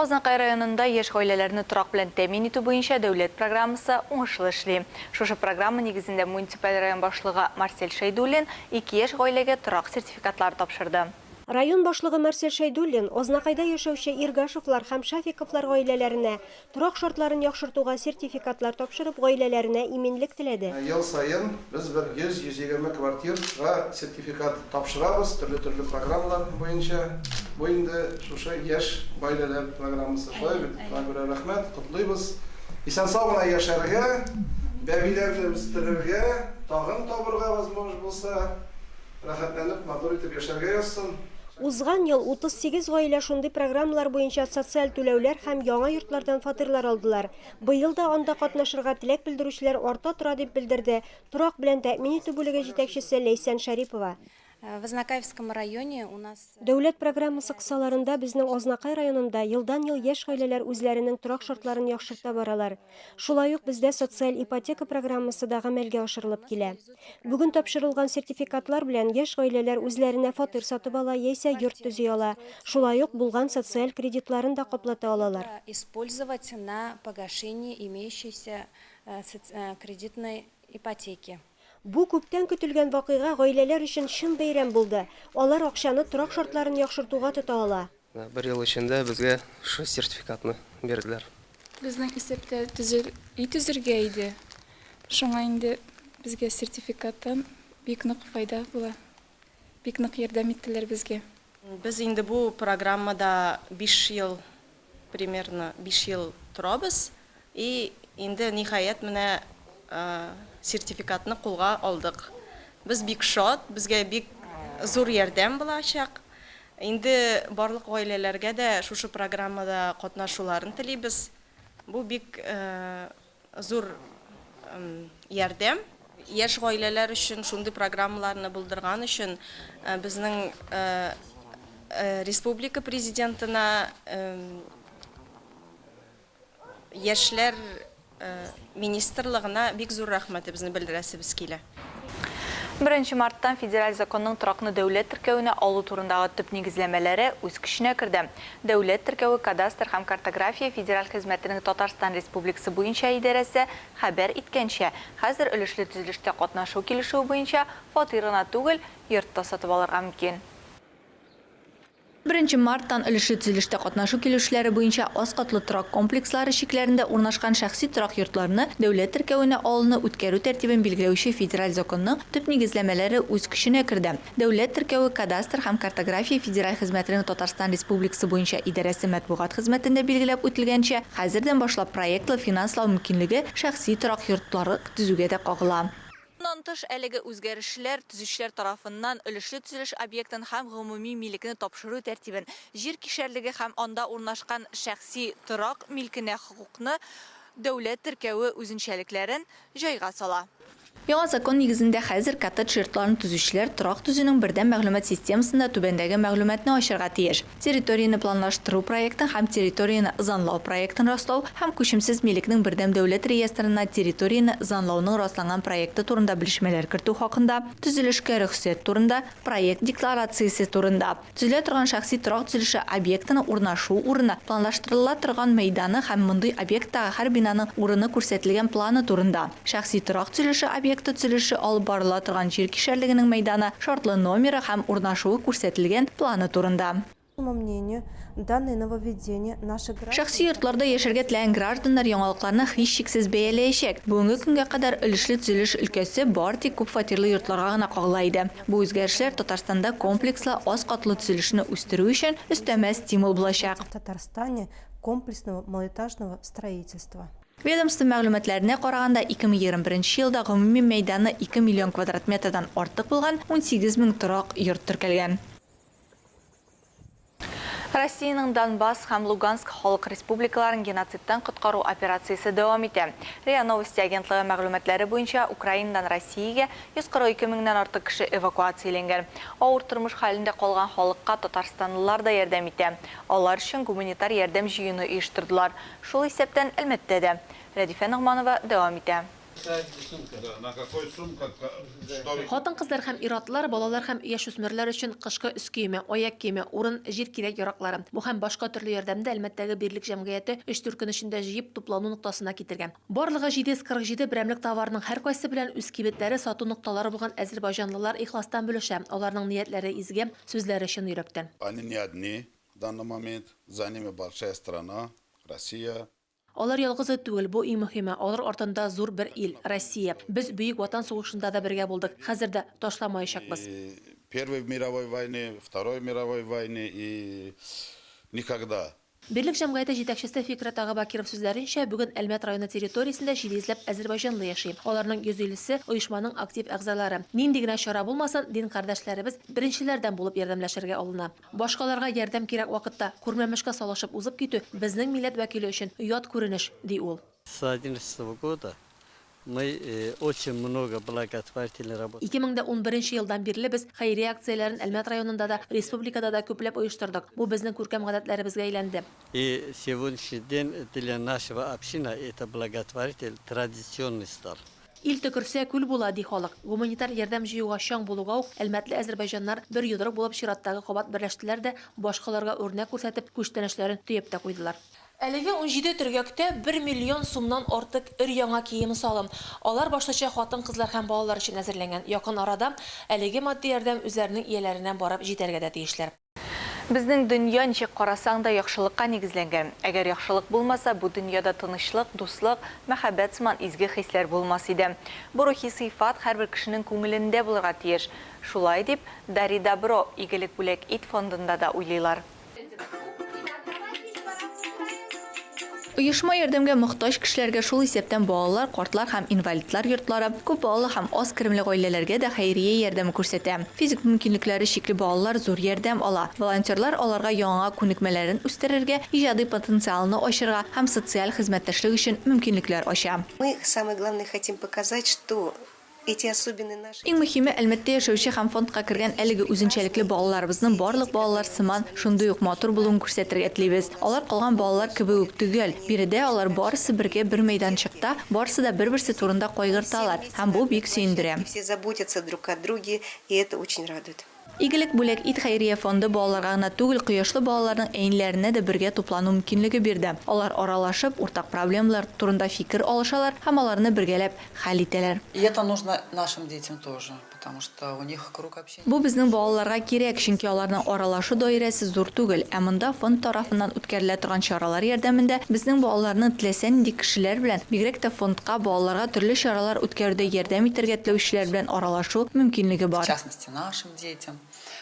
Азнакай районында яшь гаиләләрне торак белән тәэмин итү буенча дәүләт программасы уңышлы эшли. Шушы программа нигезендә муниципаль район башлыгы Марсель Шәйдуллин ике яшь гаиләгә торак сертификатлары тапшырды. Район башлыгы Марсель Шәйдуллин Азнакайда яшәүче Иргашевлар һәм Шафиковлар гаиләләренә Торак шартларын яхшыртуга сертификатлар тапшырып, гаиләләренә иминлек теләде. Ел саен без бер 100-120 квартирага сертификат тапшырабыз, төрле-төрле программалар буенча. Бу инде шушы яшь гаиләләр программасы, шулай бит? Шуңа күрә рәхмәт, котлыйбыз. Исән-сау гына яшәргә, бәбиләрне үстерергә, тагын табырга возможность булса. Рәхәтләнеп, матур итеп яшәргә язсын. Узган ел 38 гаилә шундый программалар буенча социаль түләүләр һәм яңа йортлардан фатирлар алдылар. Быел да анда катнашырга теләк белдерүчеләр арта тора, дип белдерде торак белән тәэмин итү бүлеге җитәкчесе Ләйсән Шәрипова. В Азнакаевском районе у нас. Дәүләт программасы кысаларында безнең Азнакай районында елдан-ел яшь гаиләләр үзләренең торак шартларын яхшырта баралар. Шулай ук бездә социаль ипотека программасы да гамәлгә ашырылып килә. Бүген тапшырылган сертификатлар белән яшь гаиләләр үзләренә фатир сатып ала яисә йорт төзи ала, шулай ук булган социаль кредитларын да каплата алалар. использовать на погашение имеющейся кредитной ипотеки. Бу күптән көтелгән вакыйга гаиләләр өчен чын бәйрәм булды, алар акчаны торак шартларын яхшыртуга тота ала. Бер ел эчендә безгә шушы сертификатны бирделәр. Безнең исәптә төзел өй төзергә иде, шуңа инде безгә сертификаттан бик нык файда була. Бик нык ярдәм иттеләр безгә. Без инде бу программада биш ел, примерно биш ел торабыз. И инде ниһаять менә сертификатны кулга алдык. Без бик шат, безгә бик зур ярдәм булачак. Инде барлык гаиләләргә дә шушы программада катнашуларын телибез. Бу бик зур ярдәм. Яшь гаиләләр өчен шундый программаларны булдырган өчен безнең республика Президентына, Яшьләр министрлыгына бик зур рәхмәтебезне белдерәсебез килә. Беренче мартта Федераль законның торакны дәүләт теркәвенә алу турындагы төп нигезләмәләре үз көченә керде. Дәүләт теркәве кадастр һәм картография федераль хезмәтенең Татарстан Республикасы буенча идарәсе хәбәр иткәнчә, хәзер өлешле төзелештә катнашу килешүе буенча фатир гына түгел, йорт та сатып алырга мөмкин. Беренче марттан өлешле төзелештә катнашу килешүләре буенча аз катлы торак комплекслары чикләрендә урнашкан шәхси торак йортларны дәүләт теркәвенә алуны үткәрү тәртибен билгеләүче федераль законның төп нигезләмәләре үз көченә керде. Дәүләт теркәве, кадастр һәм картография федераль хезмәтенең Татарстан Республикасы буенча идарәсе матбугат хезмәтендә билгеләп үтелгәнчә, хәзердән башлап проектлы финанслау мөмкинлеге шәхси торак йортларык төзүгә дә кагыла. Моннан тыш, әлеге үзгәрешләр төзүчеләр тарафыннан өлешле төзелеш объектын һәм гомуми милекне тапшыру тәртибен, җир кишәрлеге һәм анда урнашкан шәхси торак милкенә хокукны, дәүләт теркәве үзенчәлекләрен җайга сала. Яңа закон нигезендә хәзер коттедж йортларын төзүчеләр торак төзүнең бердәм мәгълүмат системасында түбәндәге мәгълүматны ачырга тиеш. Территорияне планлаштыру проектын һәм территорияне занлау проектын раслау һәм күчемсез милекнең бердәм дәүләт реестрына территорияне занлауның расланган проекты турында белешмәләр кертү хакында, төзелешкә рөхсәт турында, проект декларациясе турында, төзелә торган шәхси торак төзелеше объектының урнашу урыны, планлаштырыла торган мәйданы һәм мондый объекттагы һәр бинаның урыны күрсәтелгән планы турында. Шәхси торак төзелеше объекты төзелеше алып барыла торган җир кишәрлегенең мәйданы, шартлы номеры һәм урнашуы күрсәтелгән планы турында. Шәхси йортларда яшәргә теләгән гражданнар яңалыкларны һичшиксез бәяләячәк. Бүгенге көнгә кадәр өлешле төзелеш өлкәсе бары тик күпфатирлы йортларга гына кагыла иде. Бу үзгәрешләр Татарстанда комплекслы аз катлы төзелешне үстерү өчен өстәмә стимул булачак. Ведомство мәгълүматларына караганда, 2021 елда гомуми мәйданы 2 миллион квадрат метрдан артык булган 18 мең торак йорт теркәлгән. Россиянең Донбасс һәм Луганск халык республикаларын геноцидтан коткару операциясе дәвам итә. Риа Новости агентлыгы мәгълүматлары буенча, Украинадан Россиягә 142 меңнән артык кеше эвакуацияләнгән. Авыр тормыш хәлендә калган халыкка татарстанлылар да ярдәм итә. Алар өчен гуманитар ярдәм җыюны оештырдылар. Шул исәптән Әлмәттә дә. Рәдифә Ногманова дәвам итә. Хатын-кызлар һәм ир-атлар, балалар һәм яшүсмерләр өчен кышкы өс киеме, аяк киеме, урын, җир кирәк-яраклары, бу һәм башка төрле ярдәмне Әлмәттәге Бирлек җәмгыяте өч-дүрт көн эчендә җыеп, туплану ноктасына китергән. Барлыгы 747 берәмлек товарның һәркайсы белән үз кибетләре, сату нокталары булган әзербайҗанлылар ихластан бүлешә, аларның ниятләре изге, сүзләре чын йөрәктән. данный момент за ними большая страна, Россия. Алар ялгызы түгел, бу иң мөһиме, алар артында зур бер ил, Россия. Без Бөек Ватан сугышында да бергә булдык, хәзер дә, ташламаячакбыз. И Первой мировой войны, Второй мировой войны и никогда. Берлек җәмгыяте җитәкчесе Фикърәт ага Бакиров сүзләренчә, бүген Әлмәт районы территориясендә җиде йөзләп әзербайҗанлы яши. Аларның 150 се, оешманың актив әгъзалары. Нинди генә чара булмасын, дин кардәшләребез беренчеләрдән булып ярдәмләшергә алына. Башкаларга ярдәм кирәк вакытта күрмәмешкә салышып узып китү безнең милләт вәкиле өчен ят күренеш, ди ул. С одиннадцатого года мы очень много благотворительной работы. Ике мең дә унберенче елдан бирле без хәйрия акцияләрен Әлмәт районында да, республикада да күпләп оештырдык. Бу безнең күркәм гадәтләребезгә әйләнде. И сегодняшний день для нашего община это благотворитель традиционный стал. Ил төкерсә, күл була, ди халык. Гуманитар ярдәм җыюга чаң булуга ук, әлмәтле әзербайҗаннар бер йодрык булып чираттагы кабат берләштеләр дә, башкаларга үрнәк күрсәтеп, күчтәнәчләрен төяп тә куйдылар. Әлеге унҗиде төргәктә бер миллион сумнан артык өр-яңа кием-салым, алар башлыча хатын-кызлар һәм балалар өчен әзерләнгән, якын арада әлеге матди ярдәм үзләренең ияләренә барып җитәргә дә тиешләр. Безнең дөнья, ничек карасаң да, яхшылыкка нигезләнгән. Әгәр яхшылык булмаса, бу дөньяда тынычлык, дуслык, мәхәббәт сыман изге хисләр булмас иде. Бу рухи сыйфат һәрбер кешенең күңелендә булырга тиеш. Шулай дип, Дари добро, Игелек бүләк ит фондында да уйлыйлар. Оешма ярдәмгә мохтаҗ кешеләргә, шул исәптән балалар, картлар һәм инвалидлар йортлары, күп балалы һәм аз керемле гаиләләргә дә хәйрия ярдәме күрсәтә. Физик мөмкинлекләре чикле балалар зур ярдәм ала. Волонтерлар аларга яңа күнекмәләрен үстерергә, иҗади потенциалны ачырга һәм социаль хезмәттәшлек өчен мөмкинлекләр ача. Мы, самое главное, хотим показать, что эти особенные наши Иң мөһиме, Әлмәттә яшәүче һәм фондка кергән әлеге үзенчәлекле балаларыбызның барлык балалар сыман шундый ук матур булуын күрсәтергә телибез. Алар калган балалар кебек үк төгәл. Биредә алар барысы бергә бер мәйданчыкта, барысы да бер-берсе турында кайгырталар, һәм бу бик сөендерә. Все заботятся друг о друге, и это очень радует. Игелек Бүләк ит хәйрия фонды балаларга гына түгел, кояшлы балаларның әниләренә дә бергә туплану мөмкинлеге бирде. Алар аралашып, уртак проблемалар турында фикер алышалар һәм аларны бергәләп хәл итәләр. И это нужно нашим детям тоже, потому что у них круг общения Бу безнең большой. балаларга кирәк, чөнки аларның аралашу даирәсе зур түгел. Ә монда фонд тарафыннан үткәрелә торган чаралар ярдәмендә безнең балаларны теләсә нинди кешеләр белән, бигрәк тә фондка, балаларга төрле чаралар үткәрүдә ярдәм итәргә теләүчеләр белән аралашу мөмкинлеге В бар. частности. нашим детям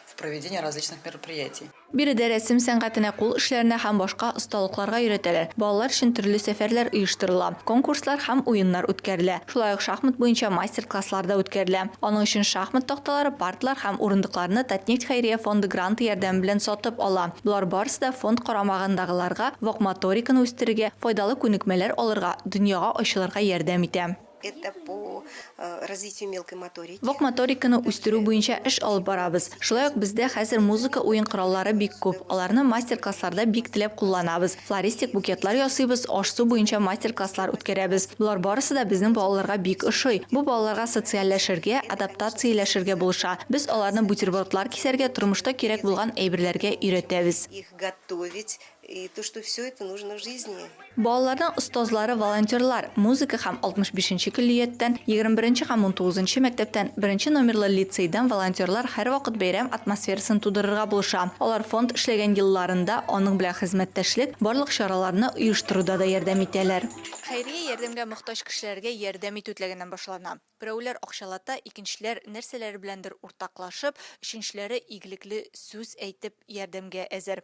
в проведении различных мероприятий. Биредә рәсем сәнгатенә, кул эшләренә һәм башка осталыкларга өйрәтәләр, балалар өчен төрле сәфәрләр оештырыла, конкурслар һәм уеннар үткәрелә. Шулай ук шахмат буенча мастер-класслар да үткәрелә. Аның өчен шахмат такталары, парталар һәм урындыкларны Татнефть хәйрия фонды гранты ярдәме белән сатып ала. Болар барысы да фонд карамагындагыларга вак моториканы үстерергә, файдалы күнекмәләр алырга, дөньяга ачылырга ярдәм итә. Это по э, развитию мелкой моторики. Вак моториканы үстерү буенча эш алып барабыз. Шулай ук бездә хәзер музыка уен кораллары бик күп. Аларны мастер-классларда бик теләп кулланабыз. Флористик букетлар ясыйбыз, аш-су буенча мастер-класслар үткәрәбез. Болар барысы да безнең балаларга бик ошый. Бу балаларга социальләшергә, адаптацияләшергә булыша. Без аларны бутербродлар кисәргә, тормышта кирәк булган әйберләргә өйрәтәбез. Их готовить, И то, что всё это нужно в жизни. Балаларның остазлары волонтерлар, музыка һәм 65 нче көллияттән, 21 нче һәм 19 нчы мәктәптән, беренче номерлы лицейдан волонтерлар һәрвакыт бәйрәм атмосферасын тудырырга булыша. Алар фонд эшләгән елларында аның белән хезмәттәшлек, барлык чараларны оештыруда да ярдәм итәләр. Хәйрия ярдәмгә мохтаҗ кешеләргә ярдәм итү теләгеннән башлана. Берәүләр акчалата, икенчеләр нәрсәләре беләндер уртаклашып, өченчеләре игелекле сүз әйтеп ярдәмгә әзер.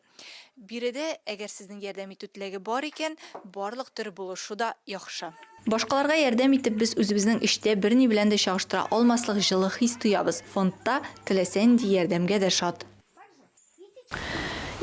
Биредә, әгәр сезнең ярдәм итү теләге бар икән, барлык төр булышу да яхшы. Башкаларга ярдәм итеп, без үзебезнең эчтә берни белән дә чагыштыра алмаслык җылы хис тоябыз. Фондта теләсә нинди ярдәмгә дә шат.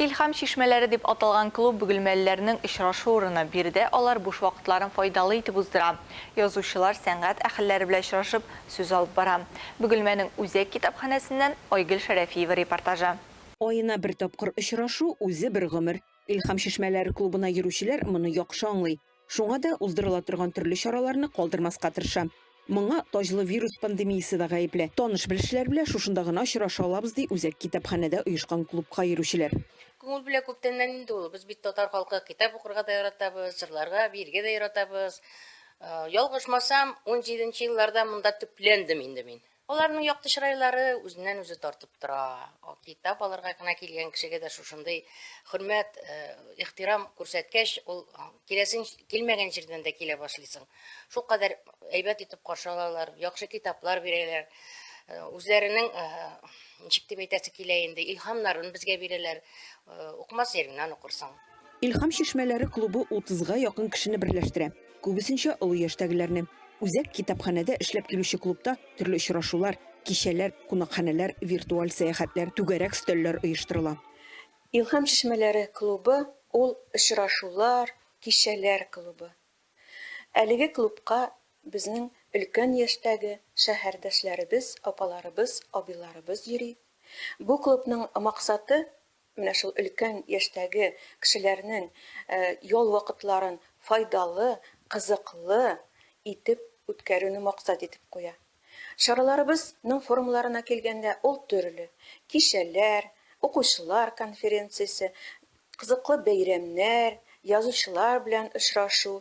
Илһам чишмәләре дип аталган клуб бөгелмәлеләрнең очрашу урыны. Биредә алар буш вакытларын файдалы итеп уздыра. Язучылар, сәнгать әһелләре белән очрашып, сүз алып бара. Бөгелмәнең үзәк китапханәсеннән Айгөл Шәрәфиева репортажы. Аена бер тапкыр очрашу, үзе бер гомер. Илһам чишмәләре клубына йөрүчеләр моны яхшы аңлый. Шуңа да уздырыла торган төрле чараларны калдырмаска тырышам. Моңа таҗлы вирус пандемиясе дә гаепле. Таныш-белешләр белән шушында гына очраша алабыз, ди үзәк китапханәдә оешкан клубка йөрүчеләр. Күңел белән күптәннән инде ул. Без бит татар халкы, китап укырга да яратабыз, җырларга, биергә дә яратабыз. Ялгышмасам, унҗиденче елларда монда төпләндем инде мин. Аларның якты чырайлары үзеннән-үзе тартып тора. Китап алырга гына килгән кешегә дә шушындый хөрмәт, ихтирам күрсәткәч, ул киләсең килмәгән җирдән дә килә башлыйсың. Шулкадәр әйбәт итеп каршы алалар, яхшы китаплар бирәләр. Үзләренең, ничек дип әйтәсе килә инде, илһамнарын безгә бирәләр. Укымас җиреңнән укырсың. Илһам чишмәләре клубы утызга якын кешене берләштерә. Күбесенчә олы яшьтәгеләрне. Үзәк китапханәдә эшләп килүче клубта төрле очрашулар, кичәләр, кунакханәләр, виртуаль сәяхәтләр, түгәрәк өстәлләр оештырыла. Илһам чишмәләре клубы ул очрашулар, кичәләр клубы. Әлеге клубка безнең өлкән яшьтәге шәһәрдәшләребез, апаларыбыз, абыйларыбыз йөри. Бу клубның максаты, Менә шул өлкән яшьтәге кешеләрнең ял вакытларын файдалы, кызыклы итеп үткәрүне максат итеп куя. Чараларыбыз ның формаларына килгәндә, ул төрле, кичәләр, укучылар конференциясе, кызыклы бәйрәмнәр, язучылар белән очрашу,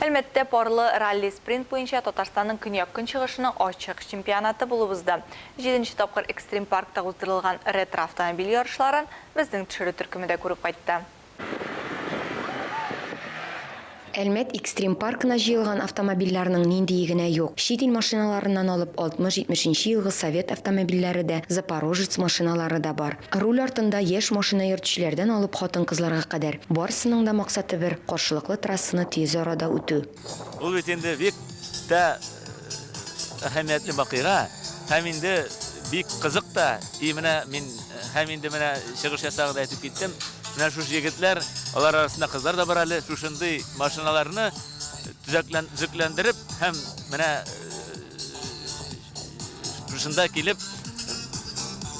Әлмәттә парлы ралли-спринт буенча Татарстанның көньяк-көнчыгышының ачык чемпионаты булып узды. Җиденче тапкыр Экстрим паркта уздырылган ретро-автомобиль ярышларын безнең төшерү төркеме дә күреп кайтты. Әлмәт Экстрим паркына җыелган автомобильләрнең ниндие генә юк. Чит ил машиналарыннан алып 60-70 нче елгы совет автомобильләре дә, Запорожец машиналары да бар. Руль артында яшь машина йөртүчеләрдән алып хатын-кызларга кадәр, барысының да максаты бер, каршылыклы трассаны тиз арада үтү. Ул бит инде бик тә Әһәмиятле вакыйга һәм инде бик кызык та. И менә мин һәм инде менә чыгыш ясагыз әйтеп киттем. Менә шушы егетләр, алар арасында кызлар да бар әле, шушындый машиналарны төзекләндереп һәм менә шушында килеп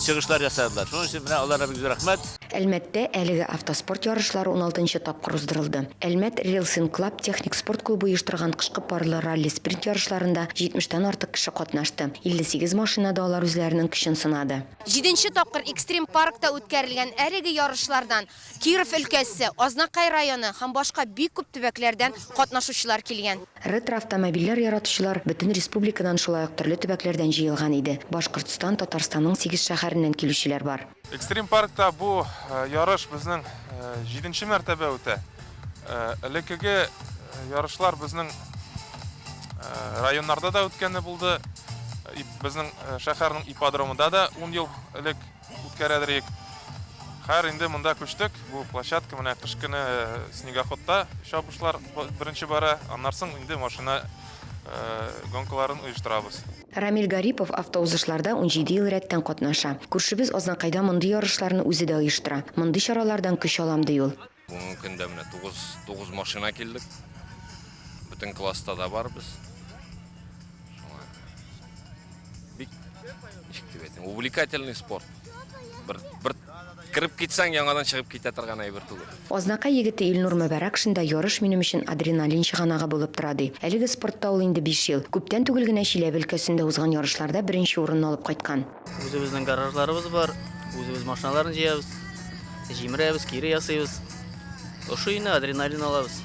чыгышлар ясадылар. Шуның өчен менә аларга бик зур рәхмәт. Әлмәттә әлеге автоспорт ярышлары уналтынчы тапкыр уздырылды. Әлмәт Рилсинг Клаб техник спорт клубы оештырган кышкы парлы ралли-спринт ярышларында җитмештән артык кеше катнашты. 58 машинада алар үзләренең көчен сынады. Җиденче тапкыр Экстрим паркта үткәрелгән әлеге ярышлардан Киров өлкәсе, Азнакай районы һәм башка бик күп төбәкләрдән катнашучылар килгән. Ретроавтомобильләр яратучылар бөтен республикадан шулай ук төрле төбәкләрдән җыелган иде. Башкортстан, Татарстанның сигез шәһәреннән килүчеләр бар. Экстрим паркта бу ярыш безнең җиденче мәртәбә үтә. Элеккеге ярышлар безнең районнарда да үткәне булды. Безнең шәһәрнең ипподромында да ун ел элек үткәрәдер идек. Хәер, инде монда күчтек. Бу площадка менә кыш көне снегоходта чабышлар беренче бара, аннарсың инде машина гонкаларын оештырабыз. Рамил Гарипов автоузышларда унҗиде ел рәттән катнаша. Күршебез Азнакайда мондый ярышларны үзе дә оештыра. Мондый чаралардан көч алам, ди ул. Бүгенге көндә менә тугыз тугыз машина килдек. Бөтен класста да барбыз. Шуңа бик ничек дип әйтим, увлекательный спорт. Бер бер Кереп китсәң, яңадан чыгып китә торган әйбер түгел. Азнакай егете Илнур Мөбәрәкшин да ярыш минем өчен адреналин чыганагы булып тора, ди. Әлеге спортта ул инде биш ел. Күптән түгел генә Чиләбе өлкәсендә узган ярышларда беренче урынны алып кайткан. Үзебезнең гаражларыбыз бар, үзебез машиналарны җыябыз, җимерәбез, кире ясыйбыз. Ошый инде, адреналин алабыз.